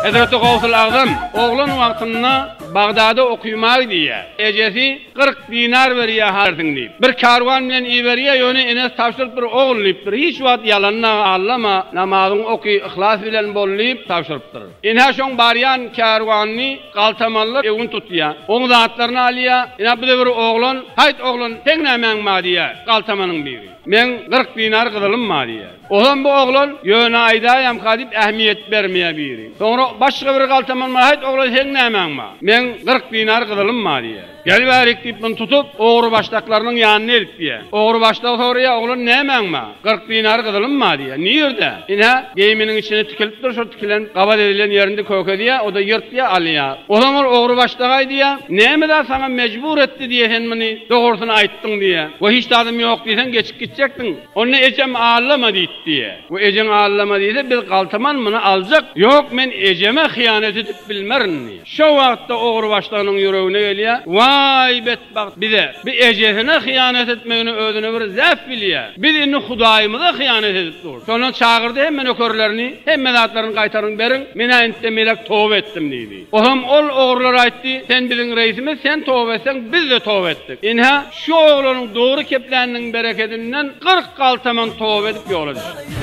Hezreti Gawsul Agzam oglan wagtynda Bagdada okymagy diýýär. Ejesi kyrk dinar berýär harsyň diýip. Bir karwan bilen iberýär, ýöne enesi tabşyrypdyr, ogul diýipdir, hiç wagt ýalanda allama, namazyňy oky, yhlas bilen bol diýip tabşyrypdyr. Enä şoň barýan karwanyny galtamanlar ewin tutýar. Oň zatlaryny alýar. Enä bu-da bir oglan. Haýt oglan, seň nämäň bar diýýär galtamanyň biri. Meň kyrk dinar gyzylym bar diýýär. Ozan bu oglan ýöne aýdaýamka diýip ähmiýet bermeýär biri. Soňra başga biri galtaman Haýt oglan seň nämäň bar? Meň kyrk dinar gyzylym bar diýýär. Gel bärik diýip muny tutup ogry başdaklarynyň ýanyna elip biýär. Ogry başdagy soraýar Oglan nämäň bar? Kyrk dinar gyzylym bar diýýär. Nirde? Ine, geýiminiň içinde tikilip dur şol tikilen gabat edilen ýerinde köke diýýär. Oda ýyrtýar alýar. Ozan ol ogry başdagaý diýýär. Näme zat saňa mejbur etdi diýýär sen muny dogrusyny aýtdyň diýýär. Wah hiç zadym ýok diýseň geçip gitjekdiň. Onda ejem allama diýip diýýär. We ejeň allama diýse, biz galtaman muny aljak. Ýok, men ejeme hyýanat edip bilmerin diýýär. Şo wagtda ogurbaşlynyň ýüregine gelýär, Waý, betbagt bize! Bu ejesine hyýanat etmegini özüne bir zähf bilýär. Biz indi Hudaýymyza hyýanat edip durus. Şondan çagyrdy hemme nökerlerini, Hemme zatlaryny gaýtaryň beriň, men-ä indi-de melek toba etdim diýdi. Oňam ol ogrular aýtdy, Sen biziň reisimiz, sen toba etseň, biz-de toba etdik. Ine-hä, şu oglanyň dogry kepländiniň berekedinden kyrk galtaman toba edip ýola düşdi.